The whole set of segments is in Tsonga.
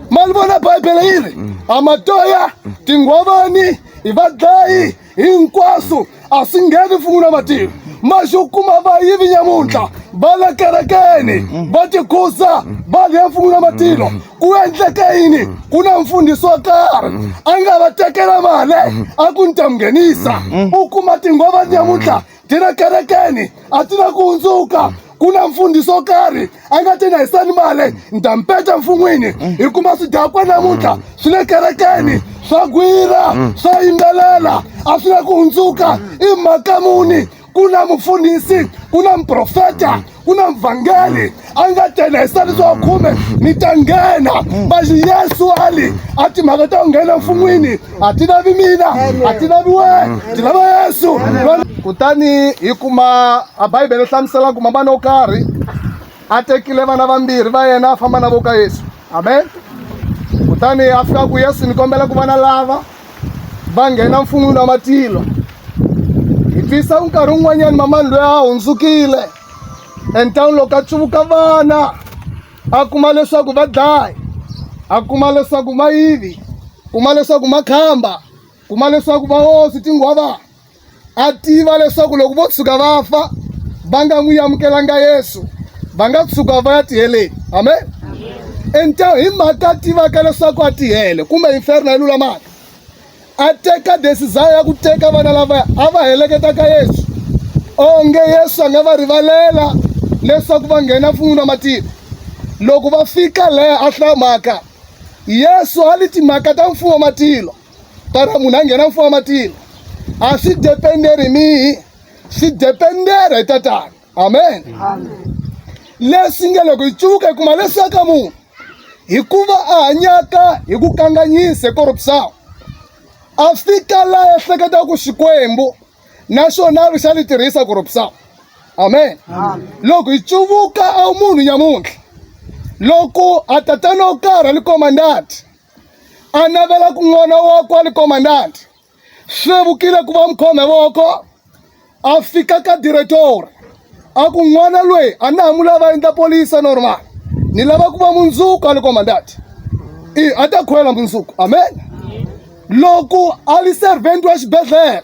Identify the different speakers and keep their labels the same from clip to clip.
Speaker 1: ma li vona bibele yi ri mm. a matoya mm. tinghwavani hi vadlayi mm. hinkwaswo a swi ngheni fun'wi na matimu maxi u kuma va yivi nyamuntlha va le kerekeni va tikhusa va lhe fun'wi na matilo ku endleke yini ku na mfundhisi wo karhi a nga va tekela mali a ku ni ta mu nghenisa u kuma tinghwavani nyamuntlha ti na kerekeni a ti na ku hundzuka ku na mfundhisi wo karhi a nga ti na hisani male ni ta mpeta mfun'wini hi kuma swidakwa namuntlha swi le kerekeni swa gwira swa yimbelela a swi na ku hundzuka i mhaka muni ku na mufundhisi ku na muprofeta ku na mvhangeri a nga tena hi sitani swa khume ni ta nghena bazi yesu ali a timhaka ta ku nghena mfun'wini a ti lavi mina a ti lavi wena ti lava yesu kutani hi kuma a bibele hlamusela ku mamana wo karhi a tekile vana vambirhi va yena a famba na vo ka yesu amen kutani a fika ku yesu ni kombela ku vana lava va nghena mfun'wini wa matilo hi twisa nkarhi wun'wanyani mamani loyi a hundzukile entawuni loko a tsuvuka vana a kuma leswaku va dlayi a kuma leswaku mayivi kuma leswaku makhamba kuma leswaku vahosi tinghwavana a tiva leswaku loko vo tshuka va fa va nga n'wi amukelanga yesu va nga tshuka va ya tiheleni amen enta hi mhaka a tivaka leswaku a tihele kumbe inferno yi lulamaka a teka desizaya ya ku teka vana lavaya a va heleketa ka yesu onge yesu a nga va rivalela leswaku va nghena fun'wini wa matiko loko va fika leha a hlamaka yesu a li timhaka ta mfumo wa matilo kana munhu a nghena mfumo wa matilo a swi dependeri hi mihi swi dependera hi tatana amen leswi nge loko hi tsuka hi kuma leswaka munhu hikuva a hanyaka hi ku kanganyisa hi korupsawu a fika la ehleketa ku xikwembu naswona a ri xa li tirhisa korupsawu amen loko hi tsuvuka a wu munhu nyamuntlha loko a tatana wo karhi a li komandati a navela ku n'wana wa kwali komandanti hlevukile ku va mkhome voko a fika ka diretori a ku n'wana loyi a na ha mu lava endla polisa normal ni lava ku va mundzuku a li komandanti i a ta khwela mundzuku amen loko a li servant wa xibedhlele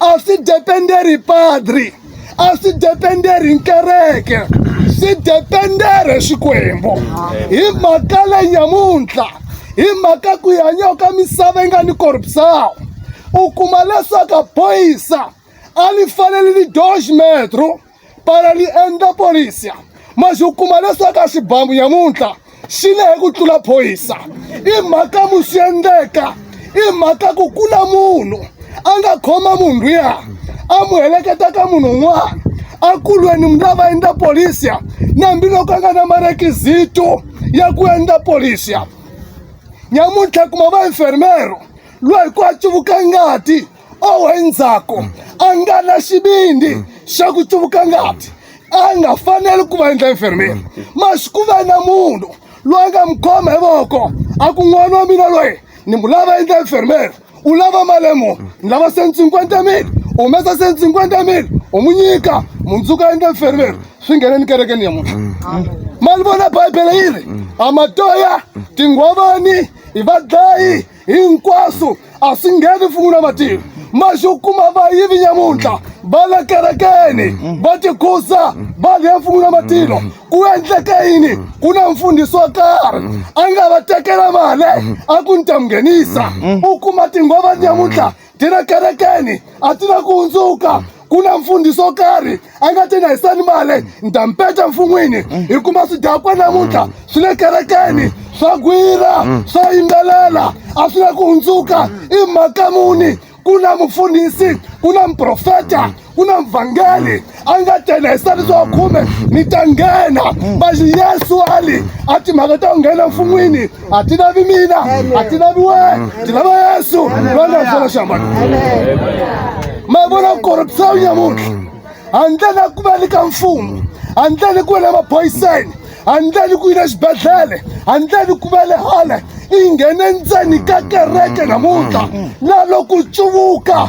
Speaker 1: a swi dependeri padri a swi dependeri nkereke swi dependere xikwembu hi mhaka le nyamuntlha hi mhaka ku hanya ka misava yi nga ni corrupção u kuma leswaku a phoyisa a li fanele li dois metro pala li endla polisia ma xi kuma leswaku a xibamu nyamuntlha xi le hi ku tlula phoyisa i mhaka mu swi endleka i mhaka ku ku na munhu a nga khoma munhu luya a mu heleketa ka munhu un'wana a kulweni mu lava endla polisia nambiloko a nga na marekizito ya ku endla polisia nyamuntlha kuma va enfermero loyi ku a tsuvuka ngati owu endzhaku a nga na xivindi xa ku tsuvuka ngati a nga faneli ku va endla enfermeri masi ku va na munhu loyi a nga mi khoma hi voko a ku n'wana wa mina loyi ni mu lava endla enfermeri u lava malemu ni lava senti cinquanta mil u humesa senti cinquanta mil u mu nyika mundzuka endla enfermeri swi ngheneni kerekeni ya munhu ma ni vona bibele yi ri amatoya tinghwavani i vadlayi hinkwaswo a swi ngheni mfumo na matimu maxi u kuma vayivi nyamuntlha va le kerekeni va tikhusa va lhe mfumo na matilo ku endleke yini ku na mfundhisi wo karhi a nga va tekela mali a ku ni ta mi nghenisa u kuma tinghova nyamuntlha ti ri ekerekeni a ti na ku hundzuka ku na mfundhisi wo karhi a nga ti na hi sanimale ni ta mpeta mfun'wini hi kuma swidakwa namuntlha swi le kerekeni swa gwira swa yimbelela a swi na ku hundzuka i mhaka muni ku na mufundhisi ku na muprofeta ku na mvhangeri a nga tena hi sati wa khume ni ta nghena bazi yesu ali a timhaka ta ku nghena mfun'wini a ti lavi mina a ti lavi wena ti lava yesu loyi nga xana xiambalo ma vona ku korupisa wu nyamuntlha handle na ku va ni ka mfumo handle ni ku va na maphoyiseni handle ni ku yi na xibedhlele handle ni ku va le hale i nghene ndzeni ka kereke namuntlha na loku cuvuka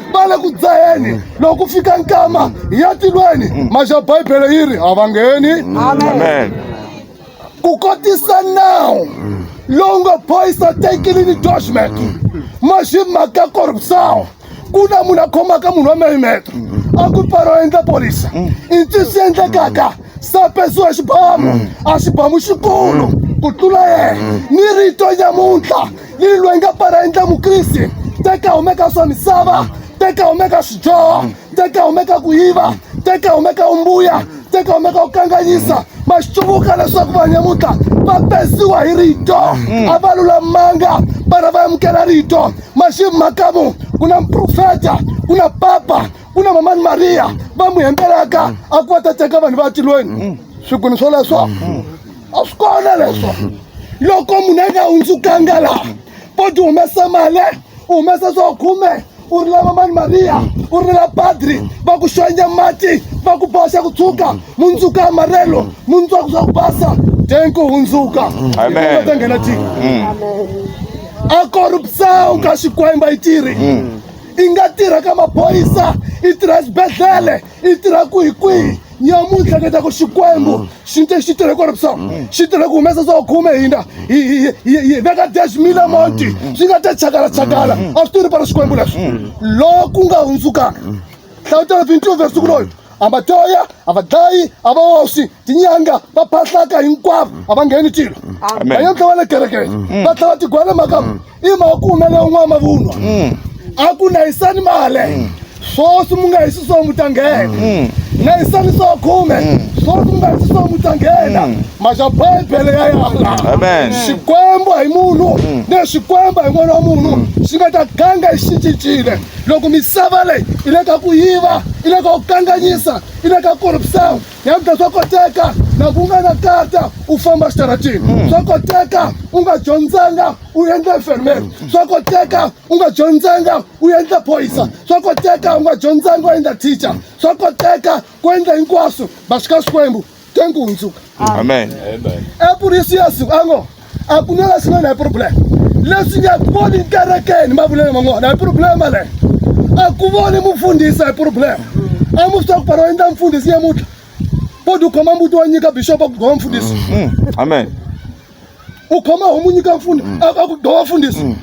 Speaker 1: va le ku dzaheni mm. loko ku fika nkama hi ya tilweni mm. maxa bibele yi ri a va ngheni amen ku kotisa nawu mm. lowu nga boyisa tekilini doshmek maxi mhaka korupsawo ku na munhu a khomaka munhu wa meyimeto a ku paro endla polisa i ntiso endlekaka sapesiwa xibamu a xibamu xikulu ku tlula yena ni rito nyamuntlha yini loyi nga para endla mukriste teka humeka swa misava teka humeka swidyoho teka humeka ku yiva teka humeka umbuya teka humeka ku kanganyisa ma swi tshuvuka leswaku vanhu nyamuntlha va pesiwa hi rito mm. a va lulamanga vana va amukela rito maximhakamu ku na mprofeta ku na papa ku na mamani mariya va n'wi hembelaka a ku va ta teka vanhu va tilweni mm. swikuni swoleswo mm. a swi kona leswo loko munhu a nga hundzukanga laha poti humesa mali u humesa swo khume u ri lava mani mariya u ri la padri va ku xonya mati va ku boxa ku tshuka mundzuka ya marelo mundzuku swa ku basa den ku hundzuka ta nghena ti mm. a korupsa u ka xikwemba yi tirhi mm. i nga tirha ka maphorisa i tirha xibedhlele i tirha kwihi kwihi nyamuntlha ni ta ku xikwembu xi te xi tirhe kwaloku so xi tirhe ku humesa swo khume hina hi hi- hi- hi veka dash mila monti swi nga ta chakala chakala a swi tirhi pala xikwembu leswi loko ku nga hundzukanga hlawutela 22 verse ku loyi a va toya a va dlayi a va oxi tinyanga va phahlaka hinkwavo a va ngheni tilo Amen. va ya tlhela va le kerekeni va tlhela va tigwele makamu i makume leyi un'wana mavunwa mm. a ku nayisani male mm. swoswi mu nga hi swiswo mu ta nghena mm. nayisani swo khume swoswi mu nga hi swiswo mu ta nghena maxa bibele ya yala xikwembu hi munhu ne xikwembu hi n'wana wa munhu xi nga ta ganga i xi cincile loko misava leyi i le ka ku yiva i le ka ku kanganyisa i le ka korupsawu Yabda swa koteka na ku nga na kata u famba xitaratini hmm. swa koteka u nga dyondzanga u endla enfermeri hmm. swa koteka u nga dyondzanga u endla phoyisa hmm. swa koteka u nga dyondzanga u endla teacher swa koteka ku endla hinkwaswo va xika xikwembu tenku hundzuka amen epurisi yesu a ngo a ku na leswi na hi problem leswi nga voni nkerekeni mavulelo man'wana hi problem leyo a ku voni mufundhisi hi problem a mu swi tiva ku pano endla mfundhisi nyamutlha bodi u khoma mbuti wa nyika bishopa ku gova mfundhisi mm, mm, amen u khoma homu nyika mfundhisi mm. a ku gova mfundhisi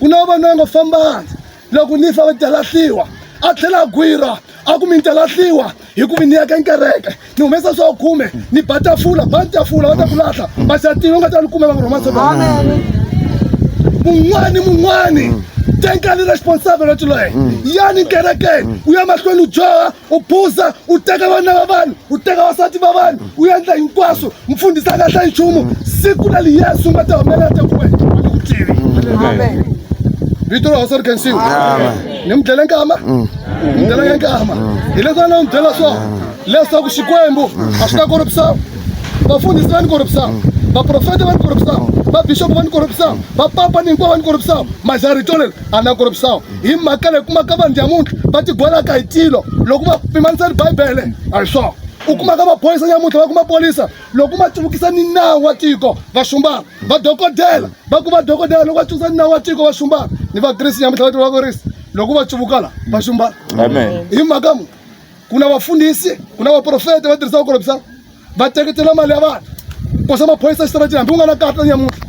Speaker 1: ku na vanhu va nga fambanga loko ni fa va ta lahliwa a tlhela a gwira a ku mi ni ta lahliwa hi ku mi ni yaka nkereke ni humesa swa khume ni ba tafula ba tafula va ta ku lahla masatini va nga ta ni kume va nga rhomasa mun'wani mun'wani tenkani responsibility leyi yani nkerekeni u ya mahlweni u dyoha u buza u teka vana va vanhu u teka vasati va vanhu u endla hinkwaswo mfundhisi a nga hlayi nchumu siku ra liyesu nga ta humelela ta ku wena a ni ku tivi vito ra hosi ri khensiwa ni mi dlele nkama mm. ni dlele nge nkama mm. hileswi a na n'wi byela swona mm. leswaku xikwembu a swi ta korupisa vafundhisi va ni korupisa vaprofeta va ni korupisa vabixopo va ni korupisa vapapa ni hinkwavo va ni korupisa majari tolelo a na korobisao hi mhaka leyi kumaka vanhu nyamuntlha va tigwelaka hi tilo loko va pimanisa ni bibele a hi swona u kumaka maphorisa nyamuntlha va ku maphorisa loko ma tivukisa ni nawu wa tiko va xumbana vadokodela va ku vadokodela loko va tivukisa ni nawu wa tiko va xumbana ni vakrisi nyamuntlha va tiva vakrisi loko va tivukala va xumbana hi mhaka mu ku na vafundhisi ku na vaprofeta va tirhisa vukorobisa va teketela mali ya vanhu kosa maphorisa xitaratini hambi u nga na karhi ta nyamuntlha